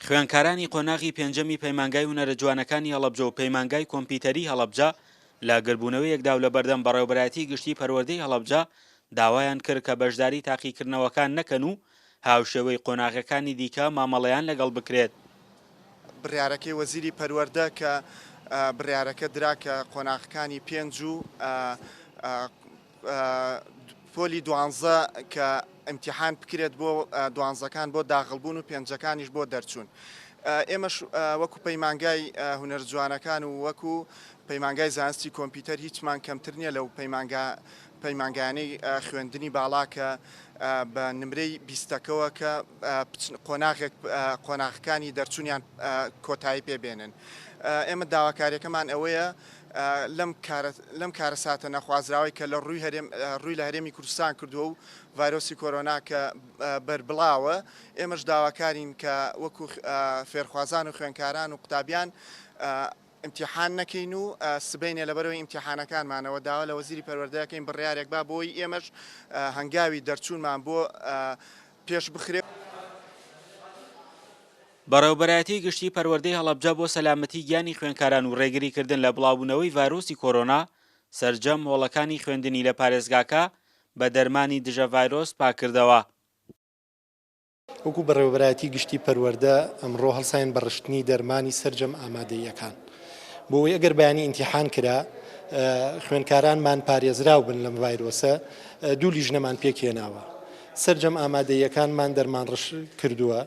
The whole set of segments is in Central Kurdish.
خوێندکارانی قۆناغی پێنجەمی پەیمانگای هونەرە جوانەکانی هەڵەبجە و پەیمانگای کۆمپیوتەری هەڵەبجە لە گردبوونەوەیەکدا و لە بەردەم بەڕێوەبەرایەتی گشتی پەروەردەی هەڵەبجە داوایان کرد کە بەشداری تاقیکردنەوەکان نەکەن و هاوشێوەی قۆناغەکانی دیکە مامەڵەیان لەگەڵ بکرێت. بڕیارەکەی وەزیری پەروەردە کە بڕیارەکە درا کە قۆناغەکانی پێنج و پۆلی دوانزە کە ئیمتیحان بکرێت بۆ دوانزەکان بۆ داغڵبوون و پێنجەکانیش بۆ دەرچوون ئێمەش وەکو پەیمانگای هونەر جوانەکان و وەکو پەیمانگای زانستی کۆمپیوتەر هیچمان کەمتر نییە لەو پەیمانگا پەیمانگانەی خوێندنی باڵا کە بە نمرەی بیستەکەەوە کە قۆناغێک قۆناغەکانی دەرچوونیان کۆتایی پێبێنن ئێمە داواکاریەکەمان ئەوەیە لەم کارەساتە نەخوازراوەی کە لە رووی لە هەرێمی کوردستان کردووە و ڤایرۆسی کۆرۆنا کە بەربڵاوە، ئێمەش داواکارین کە وەکو فێرخوازان و خوێندکاران و قوتابیان ئیمتیحان نەکەین و سبەینێ لەبەرەوەی ئیمتیحانەکانمانەوە داوا لە وەزیری پەروەردە دەکەین بڕیارێک با بۆی ئێمەش هەنگاوی دەرچوونمان بۆ پێش بخرێ. بەڕێوەبەرایەتی گشتی پەروەردەی هەڵەبجە بۆ سەلامەتی گیانی خوێندکاران و ڕێگریکردن لە بڵاوبوونەوەی ڤایرۆسی کۆرۆنا، سەرجەم هۆڵەکانی خوێندنی لە پارێزگاکە بە دەرمانی دژە ڤایرۆس پاککردەوە. وەکو بەڕێوەبەرایەتی گشتی پەروەردە ئەمڕۆ هەڵساین بە ڕشتنی دەرمانی سەرجەم ئامادەییەکان بۆ ئەوەی ئەگەر بەیانی ئینتیحان کرا خوێندکارانمان پارێزراو بن لەم ڤایرۆسە دوو لیژنەمان پێکهێناوە سەرجەم ئامادەییەکانمان دەرمانڕژ کردووە.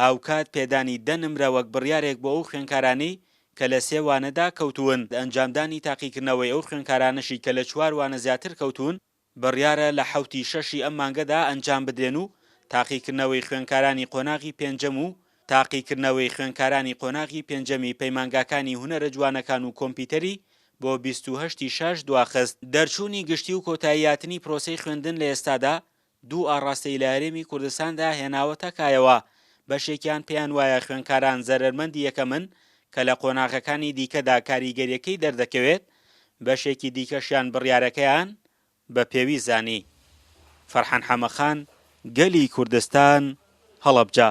هاوکات پێدانی دە نمرە وەک بڕیارێک بۆ ئەو خوێندکارانەی کە لە سێ وانەدا کەوتوون، ئەنجامدانی تاقیکردنەوەی ئەو خوێندکارانەشی کە لە چوار وانە زیاتر کەوتوون، بڕیارە لە حەوتی شەشی ئەم مانگەدا ئەنجام بدرێن و تاقیکردنەوەی خوێندکارانی قۆناغی پێنجەم و تاقیکردنەوەی خوێندکارانی قۆناغی پێنجەمی پەیمانگاکانی هونەرە جوانەکان و کۆمپیوتەری بۆ بیست و هەشت ی شاش دواخست. دەرچوونی گشتی و کۆتایی هاتنی پرۆسەی خوێندن لە ئێستادا دوو ئاڕاستەی لە هەرێمی کوردستاندا هێناوەتە کایەوە، بەشێکیان پێیان وایە خوێنکاران زەرەرمەندی یەکەمن کە لە قۆناغەکانی دیکەدا کاریگەرییەکەی دەردەکەوێت، بەشێکی دیکەشیان بڕیارەکەیان بە پێویست زانی. فەرحان حەمەخان، گەلی کوردستان، هەڵەبجە.